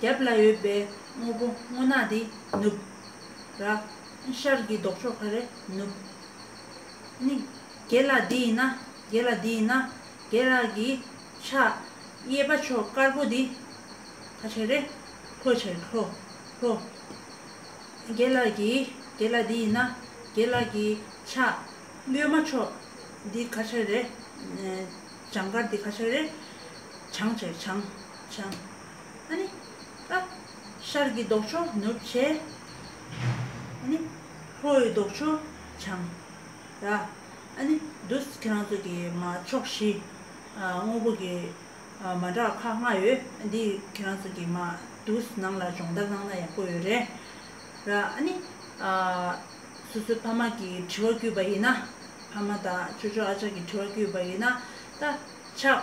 རྒྱབ་ལ་ཡོད་པའི་དངོས་པོ་སྔོ་ནག་དེ་ནུབ། ར། ཤར་གྱི་ལྡོག་ཕྱོགས་ཁ་རེ་ནུབ། ནི། རྒྱལ་ལ་འདི་ཡིན་ན། རྒྱལ་ལ་འདི་ཡིན་ན། རྒྱལ་ར་གི་ཕྱག། གཡས་པ་ཕྱོགས་དཀར་པོ་དེ། ཁ་ཕྱེ་རེ། ཁོ་ཕྱེ་རེ་ཁྲོ། ཁྲོ། རྒྱལ་ལ་གི། རྒྱལ་ལ་འདི་ཡིན་ན། རྒྱལ་ལ་གི་ཕྱག། གཡོན་མ་ཕྱོགས། འདི་ཁ་ཕྱེ་རེ། བྱང་དཀར་འདི་ཁ་ཕྱེ་རེ། བྱང་ཕྱེ་རེ་བྱང། བྱང། ནི། ཤར་གྱི་ལྡོག་ཕྱོགས་ནུབ་བྱེད། ནི། ལྷོ་ཡི་ལྡོག་ཕྱོགས་བྱང། ར། ནི། འདུ། ཁྱེད་རང་ཚོ་གི་མ་ཕྱོགས་བཞི། དངོས་པོ་གི། མ་འདྲ་ཁག་ལྔ་ཡོད། འདི་ཁྱེད་རང་ཚོ་གི་མ། འདུ། ནང་ལ་སྦྱོང་བརྡར་གནང་ན་ཡག་པོ་ཡོད་རེད། ར། ནི། སོ་སོའི་ཕ་མ་གི་དྲི་བ་བསྐུལ་བ་ཡིན་ན། ཕ་མ་དང་ཆོས་ཆོས་ཨ་ཅག་གི་དྲི་བ་བསྐུལ་བ་ཡིན་ན། ད། ཆགས།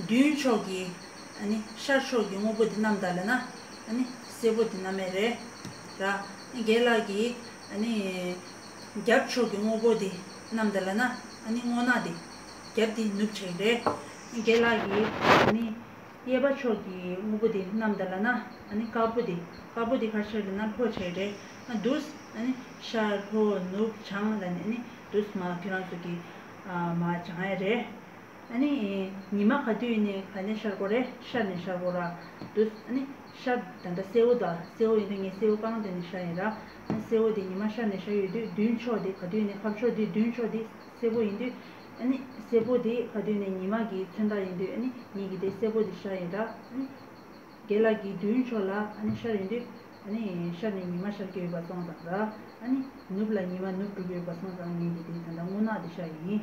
མདུན་ཕྱོགས་ཀྱི། ཤར་ཕྱོགས་ཀྱི་དངོས་པོ་འདི་རྣམས་དག་ལས་ན། སེར་པོ་འདི་རྣམས་མེ་རེ། ར། རྒྱལ་ལགས་ཀྱིས། རྒྱབ་ཕྱོགས་ཀྱི་དངོས་པོ་འདི་རྣམས་དག་ལས་ན། སྔོ་ནག་འདི། རྒྱབ་འདི་ནུབ་བྱས་རེ། རྒྱལ་ལགས་ཀྱིས། གཡས་པ་ཕྱོགས་ཀྱི་དངོས་པོ་འདི་རྣམས་དག་ལས་ན། དཀར་པོ་འདི། དཀར་པོ་འདི་གར་བྱས་རེ་ན་ལྷོ་བྱས་རེ། དུ། ཤར་ལྷོ་ནུབ་བྱང། དུ་མ། ཁྱོད་རང་ཚོ་གིས། མ་བྱང་ཡ་རེ། ཨཱ་ནི། ཉི་མ་ག་དུས་ནས་ག་ནས་ཤར་གོ་རེ་ཤར་ནས་ཤར་གོ་ར་འདུག་ཨཱ་ནི། ཤར་ད་ལྟ་སེའུ་ཟླ་སེའུ་ཡིན་དུས་ངས་སེའུ་གང་དེ་ནས་ཤར་ཡིན་ར། སེའུ་དེ་ཉི་མ་ཤར་ནས་ཤར་ཡོད་དུས་མདུན་ཕྱོགས་དེ་ག་དུས་ནས་ཕབ་ཕྱོགས་དེ་མདུན་ཕྱོགས་དེ་སེར་པོ་ཡིན་དུས་ཨཱ་ནི། སེར་པོ་དེ་ག་དུས་ནས་ཉི་མ་གི་མཚོན་རྟགས་ཡིན་དུས་ཨཱ་ནི། ཉིད་ཀྱི་དེ་སེར་པོ་དེ་ཤར་ཡིན་ར་ཨཱ་ནི། རྒྱལ་ལགས་ཀྱི་མདུན་ཕྱོགས་ལ་ཨཱ་ནི་ཤར་ཡིན་དུས་ཨཱ་ནི། ཤར་ནས་ཉི་མ་ཤར་གྱི་ཡོད་པ་སོང་ཙང་ར་ཨཱ་ནི། ནུབ་ལ་ཉི་མ་ནུབ་གྲུབ་ཡོད་པ་སོང་ཙང་ངེད་ཀྱི་དེ་ད་ལྟ་སྔོ་ནག་དེ་ཤར་ཡིན།